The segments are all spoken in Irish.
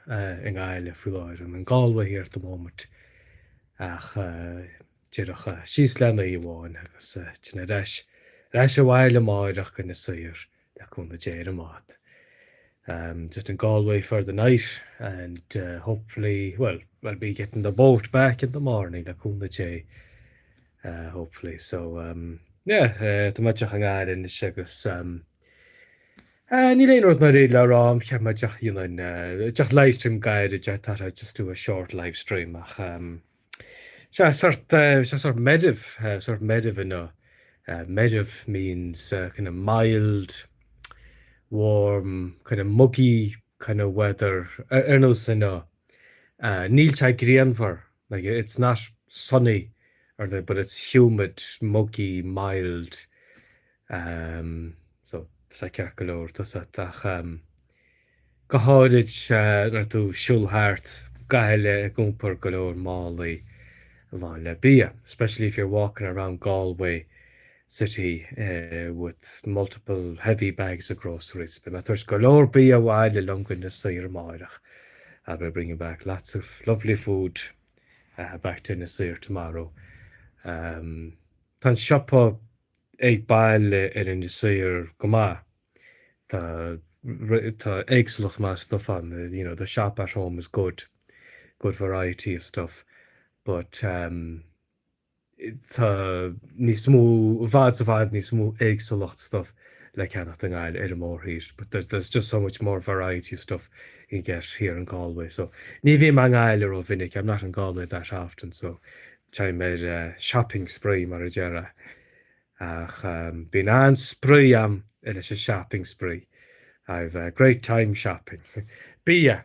i nGaillimh faoi láthair, I'm in Galway here at the moment ach díreach síos le oíche amháin agus tá mé ar ais ar ais abhaile amáireach go Inis Oírr le cúnamh Dé ar an mbád um just in Galway for the night and uh hopefully well I'll be getting the boat back in the morning le cúnamh Dé uh hopefully so um yeah uh tá mé deas in ghearr anois agus um Níl aon rud mór le rá a'm cheap mé just go ndéanfainn just livestream gairid just just do a short livestream ach tá sé sórt tá sé sórt meirbh sórt meirbh inniu meirbh means kind of mild warm kind of muggy kind of weather ar nós inniu níl sé grianmhar Like, it's not sunny or anything but it's humid, muggy, mild, em, so tá sé ceart go leor a fhios a'd ach em go háirid eh nuair atá tú ag siúl thart Gaillimh ag iompar go leor málaí lán le bia, especially if you're walking around Galway. city with multiple heavy bags of groceries beidh mé ag tabhairt go leor bia abhaile liom go Inis Oírr amárach I'll be bringing back lots of lovely food back to Inis Oírr tomorrow Tá an siopa ag baile in Inis Oírr go maith Tá tá éagsúlacht maith stuff ann you know the shop at home has good good variety of stuff but Tá níos mó, i bhfad, i bhfad níos mó éagsúlacht stuff le ceannacht i nGaillimh, ar an mórthír. But there's, there's just so much more variety of stuff I can get here in Galway. So, ní bhím i nGaillimh ró mhinic, I'm not in Galway that often, so táim ar eh, shopping spree, mar a déarfá. Ach em, bíonn an-spraoi a'm leis an shopping spree. I've a great time shopping. Bia.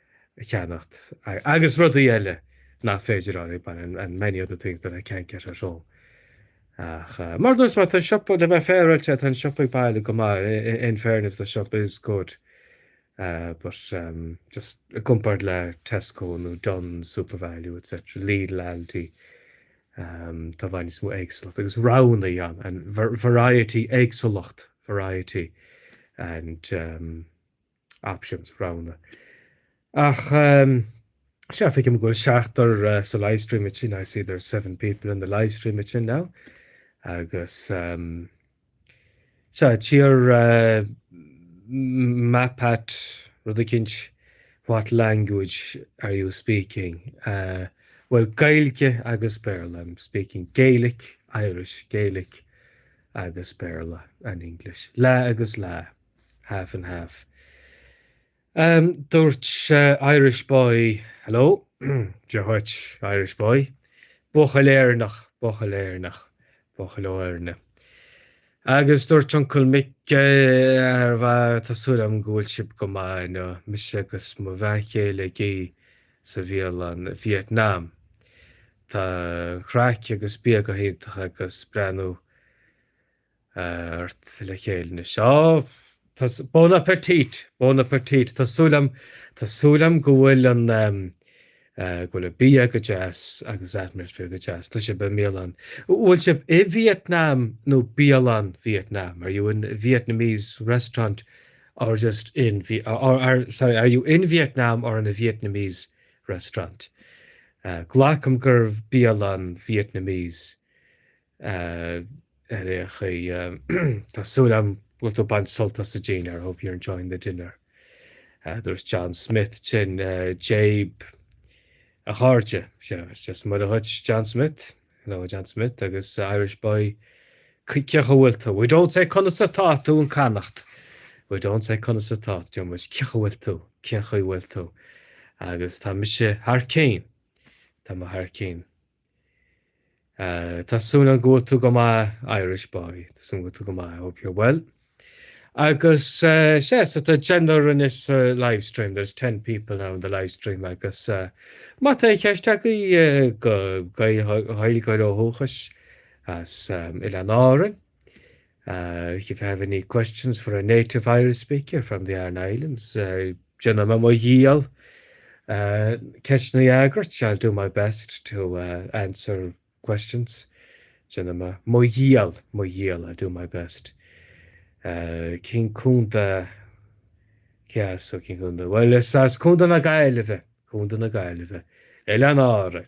a cheannacht agus rudaí eile nach féidir a fháil ag baile and many other things that I can't get at home. Ach mar a dúirt mé, tá an siopa, le bheith féaráilte, tá an siopa ag baile go maith, in fairness the shop is good but ehm just i gcomparáid le Tesco nó Dunnes Supervalu etc Lidl Aldi ehm tá i bhfad níos mó éagsúlacht agus roghannaí ann and variety éagsúlacht variety and ehm options, roghannaí. Ach sea feicim go bhfuil seachtar sa livestreamaitín, I see there's seven people in the livestreamaitín now agus sea tír map nó rud eicínt what language are you speaking? Bhuel Gaeilge agus Béarla, I'm speaking Gaelic, Irish, Gaelic agus Béarla and English. Leath agus leath. Half and half. Dúirt Irish boy hello. Dia dhuit, Irish boy. Buachaill Éireannach, buachaill Éireannach, buachaill ó Éirinn. Agus dúirt Uncle Mick ar ball tá súil agam go bhfuil sibh go maith inniu, mise agus mo bhean chéile ag ithe sa bhialann Vietnam. Tá an chraic agus bia go hiontach agus breathnú. ort le chéile anois. Á, bon appetit! Bon appetit! Tá súil agam, tá súil agam go bhfuil an ehm, eh, go bhfuil an bia go deas agus atmosphere go deas. Tá sibh i mbialann, bhfuil sibh i Vietnam nó bialann Vietnam? Are you in Vietnamese restaurant or just in Vi, or are, sorry, are you in Vietnam or in a Vietnamese restaurant? Eh, glacaim gur bialann Vietnamese. ar aon chaoi, tá súil agam go bhfuil tú ag baint sult as an dinnéar, I hope you're enjoying the dinner. Dúirt John Smith sin, Dia daoibh, a chairde, Dia is Muire dhuit, John Smith, hello, a John Smith, agus, a Irish boy, cén chaoi a bhfuil tú, we don't say conas atá tú in Connacht, we don't say conas atá, deir muid cén chaoi a bhfuil tú, cén chaoi a bhfuil tú, agus tá mise thar cionn, tá mé thar cionn. Tá súil agam go bhfuil tú go maith Irish boy, tá súil agam go bhfuil tú go maith, I hope you're well. Agus sea, so tá deichniúr anois sa live stream, there's ten people now in the live stream agus má tá ceist agaibh do Ghaeilgeoir ó dhúchas as Oileáin Árann, If you have any questions for a native Irish speaker from the Aran Islands, déanfaidh mé mo dhícheall ceisteanna a fhreagairt, I'll do my best to answer questions, déanfaidh mé mo dhícheall, mo dhícheall, I'll do my best. Cén contae, so? Cén contae? Bhuel is as Contae na Gaillimhe, Contae na Gaillimhe, Oileáin Árann.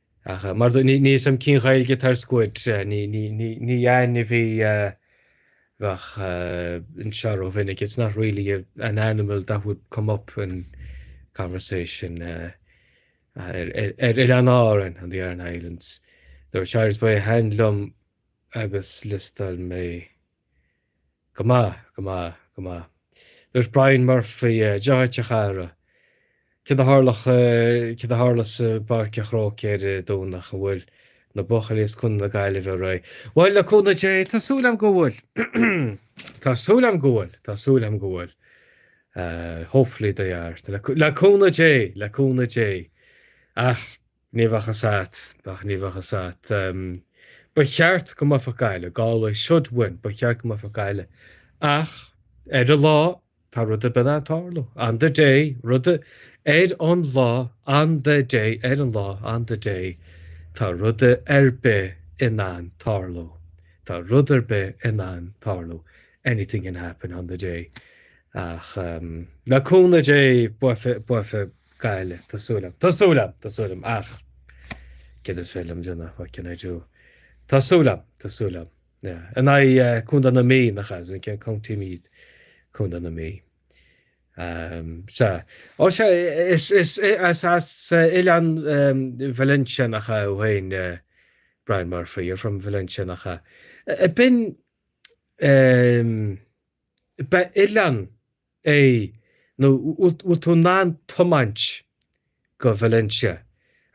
Ach mar do níl a fhios agam cén Ghaeilge atá ar squid ní ainmhí é a bheadh anseo rómhinic, it's not really an animal that would come up in conversation ar Oileáin Árann, on the Aran Islands. Dúirt Irish boy, Is aoibhinn liom agus liostáil mé. Go maith, go maith, go maith. Dúirt Brian Murphy, Dia dhuit a chara, céard a tharlós, céard a tharlós sa bPáirc an Chrócaigh ar an Domhnach? An bhfuil na buachaillí as Contae na Gaillimhe réidh? Bhuel, le cúnamh Dé, tá súil agam go bhfuil. Tá súil agam go bhfuil, tá súil agam go bhfuil. Hopefully they are. Le cúnamh Dé, le cúnamh Dé. Ach Ní bheadh a fhios agat ach ní bheadh a fhios agat. Ba cheart go mbuafadh Gaillimh, Galway should win, ba cheart go mbuafadh Gaillimh ach ar an lá tá rud ar bith in ann tarlú, on the day, rud ar an lá, on the day, ar an lá, on the day, tá rud ar bith in ann tarlú, tá rud ar bith in ann tarlú, anything can happen on the day ach le cúnamh Dé buafaidh, buafaidh. Gaillimh. Tá súil agam. Tá súil agam. Tá súil agam. Ach céard is féidir liom a dhéanamh? What can I do? Tá súil agam. Tá súil agam. Yeah. In aghaidh Contae na Mí, nach ea? It's against County Meath? Contae na Mí. Um, sea. Ó sea, is, is, is as Oileán Valentia, nach ea, thú fhéin, eh, Brian Murphy, you're from Valentia, nach ea? B'in, um, ba oileán é nó bhfuil tú in ann tiomáint go Valentia?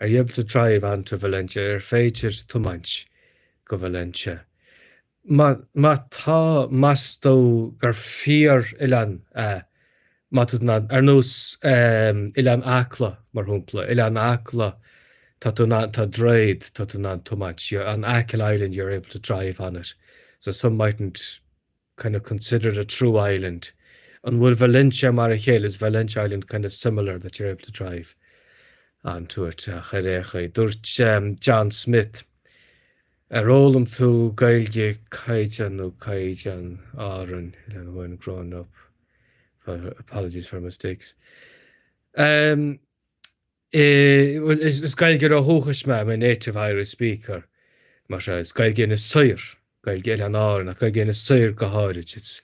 Are you able to drive on to Valentia? Ar féidir tiomáint go Valentia? Má má tá, meas tú gur fíor-oileán é? Má tú in ann, ar nós ehm Oileán Acla mar shompla, Oileán Acla tá tú in ann, tá droichead, tá tú in ann tiomáint, you're on Achill Island you're able to drive on it. So some mightn't. kind of consider it a true island an bhfuil Valentia mar a chéile is Valentia island kind of similar that you're able to drive onto it ach ar aon chaoi dúirt John Smith ar fhoghlaim tú Gaeilge caighdeán nó caighdeán Árann le when growing up for apologies for mistakes um, Is is Gaeilgeoir ó dhúchais mé, I'm a native Irish speaker. Mar seo, is Gaeilge Inis Oírr, Gaeilge Oileáin Árann ach Gaeilge Inis Oírr go háirid, it's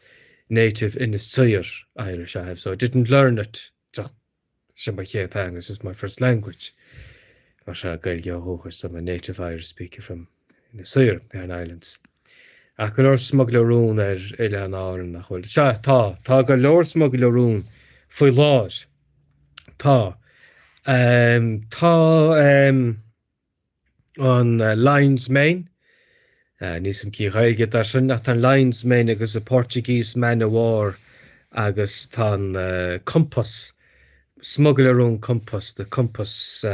native Inis Oírr Irish I have so I didn't learn it just, sin mo chéad theanga, this is my first language. Mar seo, Gaeilgeoir ó dhúchais so I'm a native Irish speaker from. Inis Oírr, Aran Islands. Ach go leor smugairle róin ar Oileáin Árann, nach bhfuil? Sea, tá. Tá go leor smugairle róin faoi láthair. Tá. Tá an Lion's Mane, níl a fhios agam cén Ghaeilge atá air sin, ach tá an Lion's Mane agus an Portuguese Man o' War agus tá an Compass. smugairle róin compás the compass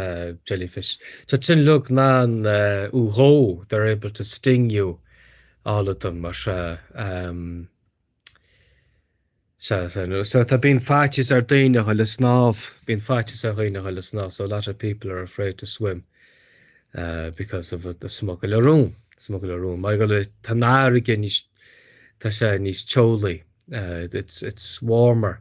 jellyfish tá siad uilig in ann thú a dhó they're able to sting you all of them mar sea sea sea nó so tá bíonn faitíos ar dhaoine a dhul ag snámh bíonn faitíos ar dhaoine a dhul ag snámh so a lot of people are afraid to swim because of the smugairle róin smugairle róin mar gheall tá an fharraige níos tá sé níos teolaí it's it's warmer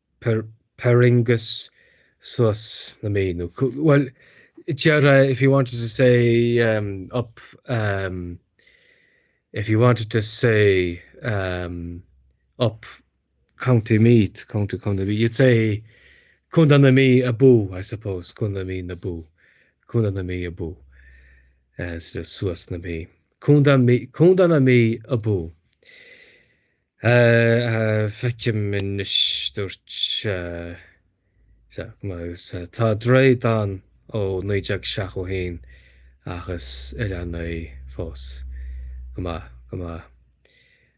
Perringus suas na Mí nó bhuel deir a if you wanted to say em up em if you wanted to say em up County Meath County County Meath you'd say Contae na Mí abú I suppose Contae na Mí abú Contae na Mí abú instead of suas na Mí Contae Mí Contae na Mí abú. Feicim anois dúirt sé sea agus tá droichead ann ó 1971 ach is oileán í fós. Go maith, go maith.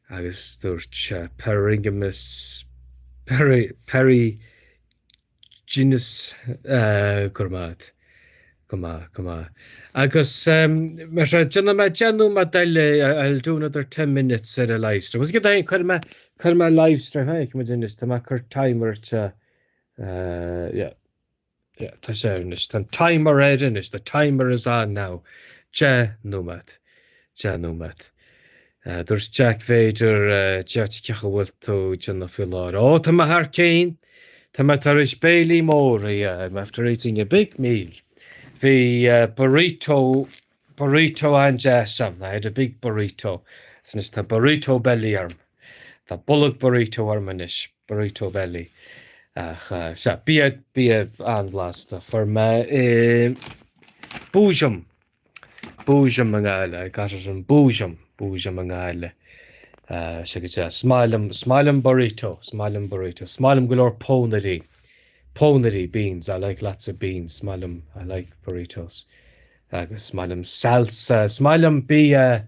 Agus dúirt sé Perringimus Perry Perry Denis go raibh maith agat. Go maith, go maith. Agus mar sin, déanfaidh mé deich nóiméad eile, I'll do another ten minutes ar an live stream. Is cuirfidh mé, cuirfidh mé live stream, ha, chun muid anois, tá mé ag cur timer ar seo, yeah, yeah, tá sé anois, tá an timer ar anois, the timer is on now, deich nóiméad. 10 nóiméad. Dúirt Jack Bhféidir Jack cén chaoi a bhfuil tú a dhuine uasail? Ó, tá mé thar cionn! Tá mé tar éis béile mór a I'm after eating a big meal. Bhí burrito, burrito an-deas agam. I had a big burrito. Is anois tá burrito belly orm. Tá bolg burrito orm anois. Burrito belly. Ach sea, bia, bia an-bhlasta. Fuair mé é i Boojum. Boojum i nGaillimh, I got it in Boojum, Boojum i nGaillimh, Sea go deas. Is maith liom, is maith liom burrito, is maith liom burrito. Is maith liom go leor pónairí, pónairí, beans, I like lots of beans. Is maith liom, I like burritos. Agus is maith liom salsa, is maith liom bia.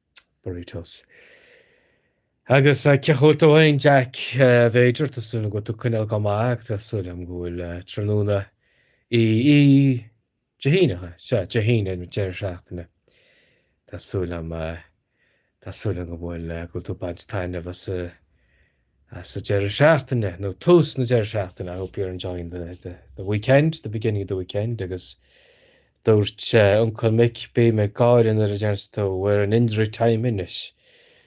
Burritos. Agus cén chaoi a bhfuil tú féin, Jack? Bhféidir, tá súil agam go bhfuil tú ag coinneáil go maith ach tá súil agam go bhfuil tráthnóna i Dé hAoine, nach ea? Sea, Dé hAoine, an deireadh seachtaine. Tá súil agam, tá súil agam go bhfuil, go bhfuil tú ag baint taitneamh as an. sa deireadh seachtaine nó tús na deireadh seachtaine I hope you're enjoying the the the weekend, the beginning of the weekend agus dúirt uncail Mick bím ag gáire nuair a deir tú we're in injury time anois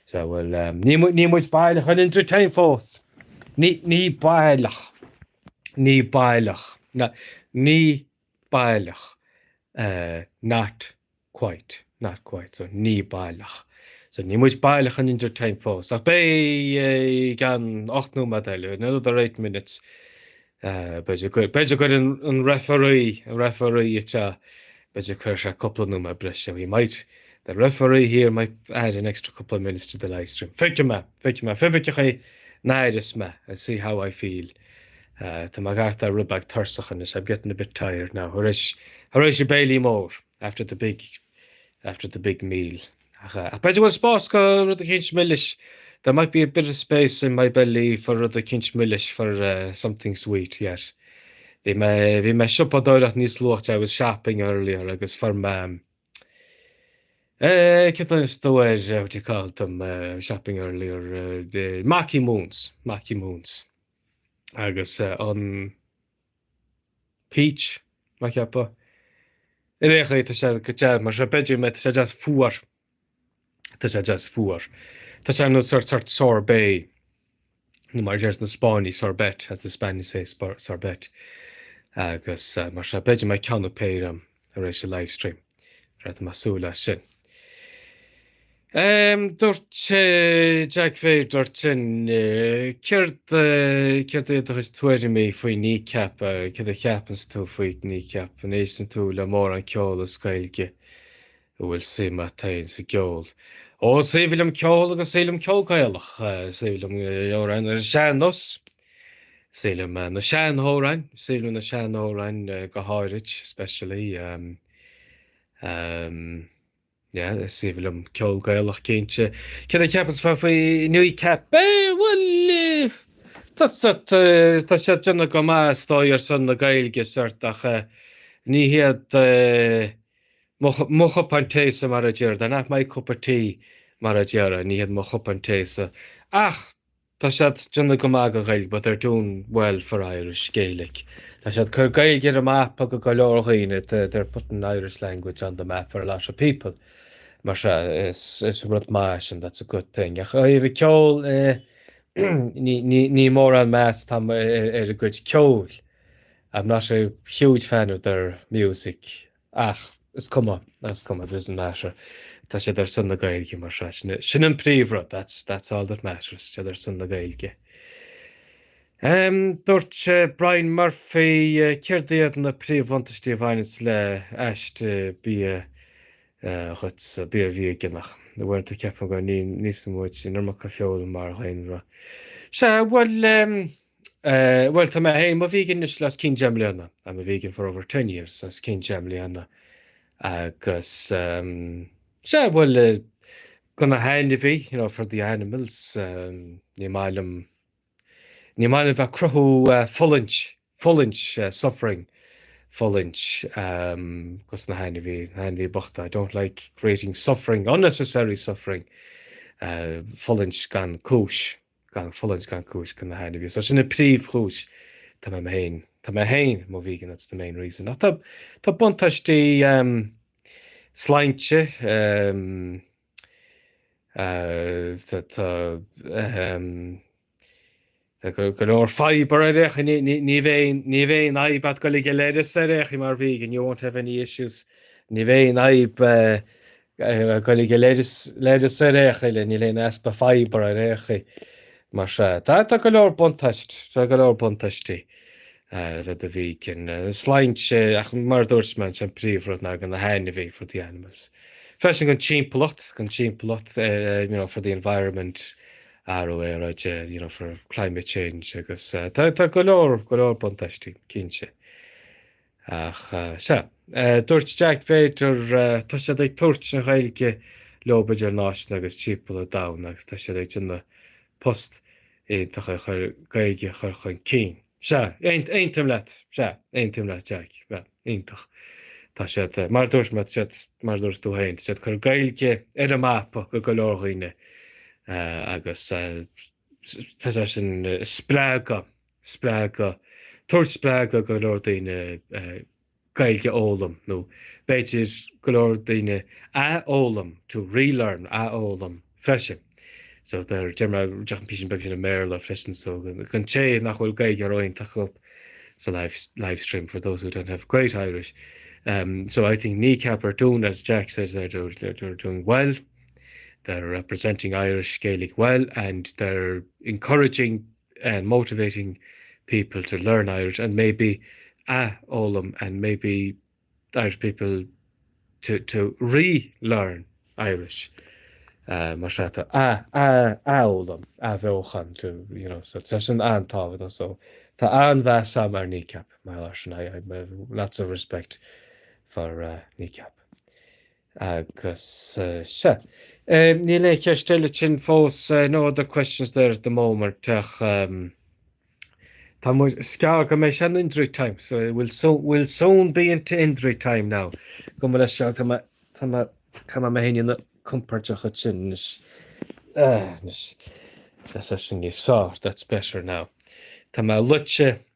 so bhuel ní níl muid baileach in injury time fós ní ní baileach ní baileach na ní baileach not quite, not quite, so níl baileach, so níl muid baileach in injury time fós ach beidh i gceann ocht nóiméad eile, in another eight minutes b'fhéidir go, b'fhéidir go gcuirfidh an referee, an referee it's a, b'fhéidir cuirfidh sé cúpla nóiméad breise, he might, the referee here might add an extra couple of minutes to the livestream. Feicfidh mé, feicfidh mé, feicfidh mé chaoi a n-aireoidh mé, I'll see how I feel. Uh, tá mé ag éirí rud beag tuirseach anois, I'm getting a bit tired now, thar éis, thar éis an béile mór, after the big, after the big meal. Ach, uh, ach b'fhéidir go bhfuil spás do rud eicínt milis, there might be a bit of space in my belly for rud eicínt milis, for uh, something sweet, yes. Bhí mé, bhí mé ag siopadóireacht níos luaite, I was shopping earlier, agus fuair mé, um, uh, céard a thuganns tú ar, uh, what do you call them, uh, shopping earlier, uh, the Marky Moons, Marky Moons. agus an peach, mé ag ceapadh. Ar aon chaoi, tá sé go deas mar sin. B'fhéidir go mbeidh, tá sé deas fuar. Tá sé deas fuar. Tá sé ar nós sórt, sórt sorbet, nó mar a deireanns na Spáinnigh, sorbet, as the Spanish say, sorbet. Agus mar sin, b'fhéidir go mbeidh ceann nó péire agam. tar éis an livestream. Beidh mé ag súil leis sin. Ehm, dúirt sé Jack Fair, dúirt sin, céard, céard iad do chuid tuairimí faoi Kneecap, céard a cheapanns tú faoi Kneecap, an éisteann tú le mórán ceoil as Gaeilge, an bhfuil suim a't fhéin sa gceol? Ó, is aoibhinn liom ceol agus is aoibhinn liom ceol Gaelach, is aoibhinn liom amhráin ar an sean-nós. Is aoibhinn liom na seanamhráin, is aoibhinn liom na seanamhráin go háirid, especially um, um, yeah, is aoibhinn liom ceol Gaelach cinnte. Céard a cheapanns mé faoi Kneecap? Eh, bhuel, eh, tá sórt, eh, tá siad ag déanamh go maith is dóigh ar son na Gaeilge sórt ach eh, ní hiad eh, mo, chu- mo chupán tae-sa mar a déarfá, not my cup of tea mar a déarfá, ní hiad mo chupán tae-sa. Ach Tá siad ag déanamh go maith don Ghaeilge but they're doing well for Irish, Gaelic. Tá siad ag cur Gaeilge ar an mapa do go leor daoine, they're putting Irish language on the map for a lot of people. Mar sin, is rud maith é sin, that's a good thing. Ach ó thaobh an cheoil de, ní mórán meas atá agam ar a gcuid ceoil, I'm not a huge fan of their music. Ach is cuma, is cuma, doesn't matter. Tá siad ar son na Gaeilge mar sin, sin an príomhrud, that's, that's all that matters, tá siad ar son na Gaeilge. Um, dúirt uh, Brian Murphy, uh, céard iad na príomhbhuntáistí a bhaineanns le haiste bia uh, dhuit, uh, bia veigeánach. Nó an bhfuil tú ag ceapadh go n-itheanns muid an iomarca feola mar dhaonra. Sea, well, um, Eh, bhuel, tá mé féin, mo vegan anois le os cionn deich mbliana. I'm a vegan for over ten years, os cionn deich mbliana. Agus, em, sea, bhuel, eh, do na hainmhithe, you know, for the animals, em, ní maith liom, ní maith liom bheith ag cruthú eh, fulaingt, fulaingt, eh, suffering, fulaingt, em, dos na hainmhithe, na hainmhithe bochta. I don't like creating suffering, unnecessary suffering, eh, fulaingt gan cúis. gan fulaingt gan cúis do na hainmhithe so sin an príomhchúis tá mé féin tá mé féin mo vegan that's the main reason ach tá tá buntáistí ehm sláinte ehm eh tá tá ehm tá go go leor fibre ar aon chaoi ní ní ní bheidh aon ní bheidh aon fhadhb agat ag goil ag an leithreas ar aon chaoi mar vegan you won't have any issues ní bheidh aon fhadhb eh Ag goil ag an leithreas ar aon chaoi, níl aon easpa fibre ar aon chaoi mar sea. Tá go leor buntáistí le bheith i do vegan, sláinte ach mar a dúirt mé ansin an príomhrud ná do na hainmhithe for the animals. Freisin don timpeallacht, an timpeallacht you know for the environment athrú aeráide you know for climate change agus tá go leor go leor buntáistí cinnte. Ach sea, dúirt Jack b'fhéidir, tá siad ag tabhairt na Gaeilge leo idirnáisiúnta agus timpeall an domhain agus tá siad ag déanamh post iontach ag chur Gaeilge a chur chun cinn. Sea, aontaím leat, sea, aontaím leat Jack, sea, iontach. Tá siad, mar a dúirt mé, tá siad, mar a dúirt tú féin, tá siad ag cur Gaeilge ar an mapa do go leor daoine agus tá sé sin ag spreagadh spreagadh, tabhairt spreagadh go leor daoine Gaeilge a fhoghlaim nó b'fhéidir go leor daoine athfhoghlaim, to relearn, athfhoghlaim freisin. So déar, déarfaidh mé an písín beag sin i mBéarla freisin don té nach bhfuil Gaeilge iontach acu sa live live stream for those who don't have great Irish. Um, so I think Kneecap are doing, as Jack said, they're, they're, they're doing well. They're representing Irish Gaelic well and they're encouraging and motivating people to learn Irish and maybe a fhoghlaim and maybe Irish people to to re-learn Irish eh mar sea to a a a fhoghlaim athbheochan to you know so tá sin an-tábhachtach so tá an-mheas agam ar Kneecap mar lá sin I I have lots of respect for uh, Kneecap. Agus sea. Níl aon cheist eile ansin fós, no other questions there at the moment, ach tá muid, is gearr go mbeidh sé in injury time, so it will soon, we'll soon be into injury time now. Gabh mo leithscéal, so, tá mé, tá mé, go mbeidh mé féin compóirteach ansin anois. Anois, tá sé sin níos fearr, that's better now. Tá mé luite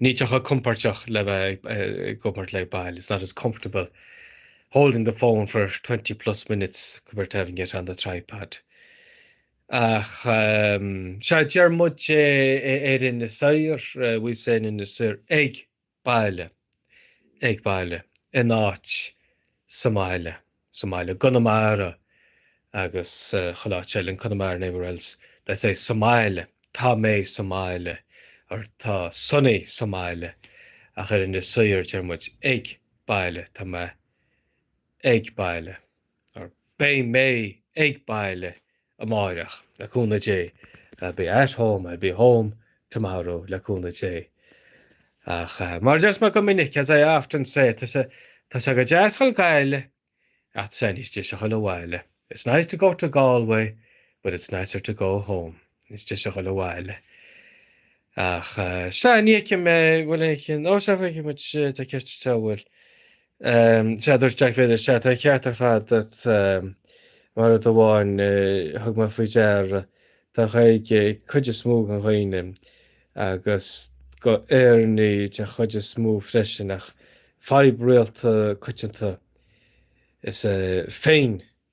Níl sé chomh compóirteach le bheith ag obair le baill, it's not as comfortable holding the phone for twenty plus minutes compared to having it on the tripod. Ach sea, deir muid é ar Inis Oírr, we say in Inis Oírr, ag baile, ag baile, in áit, sa mbaile. sa mbaile i gConamara agus chuile áit eile in Connemara and everywhere else they say sa mbaile, tá mé sa mbaile or tá Sonny sa mbaile ach ar Inis Oírr deir muid ag baile, tá mé ag baile or beidh mé ag baile amárach, le cúnamh Dé. I'll be at home, I'll be home tomorrow le cúnamh Dé. Ach mar a deir mé go minic, as I often say, tá sé go deas a dhul go Gaillimh ach tá sé níos deise a dhul abhaile. It's nice to go to Galway but it's nicer to go home. Níos deise a dhul abhaile. Ach sea, ní fheicim, bhfuil aon cheann, ó sea, feicim, tá ceist anseo, bhfuil. Sea, dúirt Jack Villiers, sea, tá an ceart ar fad a't, mar rud amháin, thug mé faoi deara, tá Gaeilge ag cuid is mó de dhaoine, agus go hÉireannaigh den chuid is mó freisin, ach fadhb rialta coitianta is ea féin-ghontacht.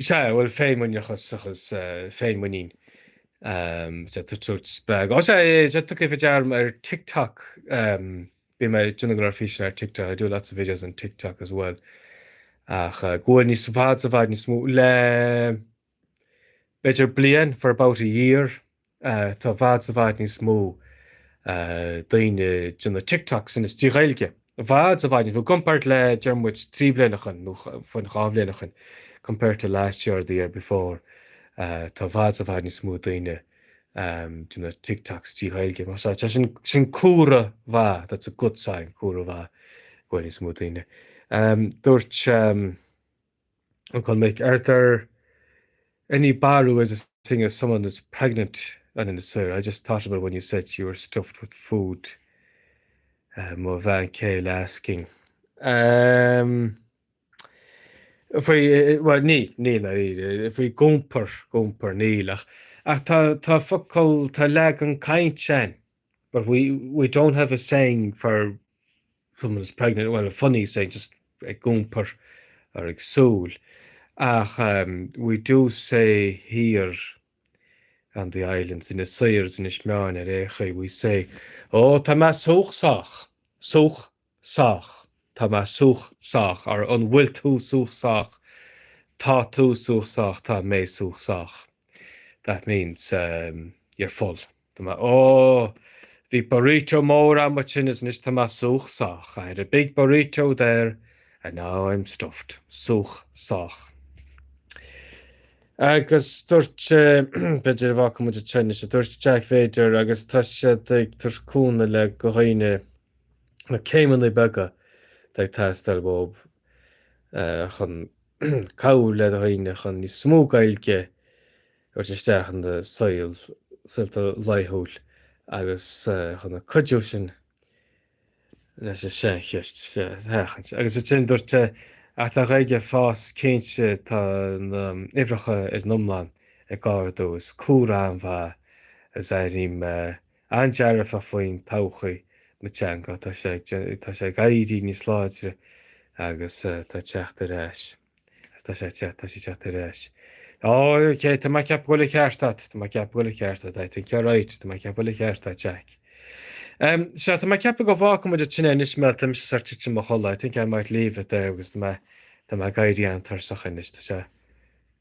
Sea, bhuel, féinmhuinín agus féinmhuinín, sea, tá sórt spreag. Á, sea, é, sea, tugaim faoi deara ar TikTok, bíonn mé ag déanamh go leor físeanna ar TikTok, I do lots of videos on TikTok as well, ach go bhfuil níos, i bhfad, i bhfad níos mó, le, b'fhéidir bliain, for about a year, Tá i bhfad i bhfad níos mó daoine ag déanamh TikToks anois trí Ghaeilge. I bhfad i bhfad níos mó. I gcomparáid le deir muid trí bliana ó shin nó fiú dhá bhliain ó shin compared to last year or the year before tá i bhfad i bhfad níos mó daoine ag déanamh TikToks trí Ghaeilge. Measaim sin sin comhartha maith that's a good sign comhartha maith go bhfuil níos mó daoine. Dúirt An chun mic are there any barúil ways of saying someone is pregnant on Inis Oírr I just thought about when you said you were stuffed with food mo bhean chéile asking um faoi bhuel ní níl mar fhíor faoi ag iompar ag iompar níl ach ach tá tá focal tá leagan cainte ann But we we don't have a saying for someone is pregnant, well a funny saying just ag gúmpar or ag súil ach um, we do say here on the islands ina saor is ina smeáin ar aon chaoi we say, oh tá mé súchsach, súch sách, tá mé súch sách or an bhfuil tú súch sách, tá tú súch sách, tá mé súch sách, that means um you're full. Tá mé, oh, bhí burrito mór a'm ansin is anois tá mé súch sách, I had a big burrito there and now I'm stuffed. Súch sách. Agus dúirt sé, b'fhéidir a bhfaca muid anseo anois, a dúirt Jack b'fhéidir agus tá siad ag tabhairt cúnamh le do dhaoine, na céimeanna beaga atá ag teastáil uaibh chun cabhrú le daoine chun níos mó Gaeilge a thabhairt isteach ina saol saolta laethúil agus chun an cuidiú sin leis an saincheist seo a sheachaint. Agus ansin dúirt sé, Ach tá an Ghaeilge ag fás, cinnte tá na huimhreacha ar an iomlán ag ardú, is comhartha maith is airím. an-dearfach faoin todhchaí na teanga. Tá sé tá sé ag éirí níos láidre agus tá sé ag teacht ar ais agus tá sé ag teacht tá sé ag teacht ar ais. OK tá mé ag ceapadh go bhfuil an ceart agat tá mé ag ceapadh go bhfuil an ceart agat I think you're right tá mé ag ceapadh go bhfuil an ceart agat Jack. Sea tá mé ag ceapadh go bhfágfaidh muid ansin é anois mar tá mise ar tí titim i mo chodladh I think I might leave it there agus tá mé tá mé ag éirí an-tuirseach anois tá sé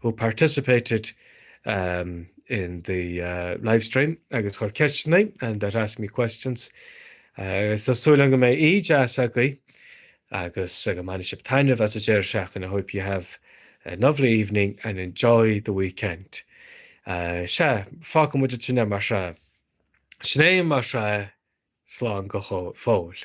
who participated um in the uh live stream agus a chuir ceisteanna and that asked me questions agus tá súil agam go mbeidh oíche dheas agaibh agus go mbainfidh sibh taitneamh as an deireadh seachtaine I hope you have a lovely evening and enjoy the weekend uh sea fágfaidh muid ansin é mar sin sin é mar sin slán go fóill.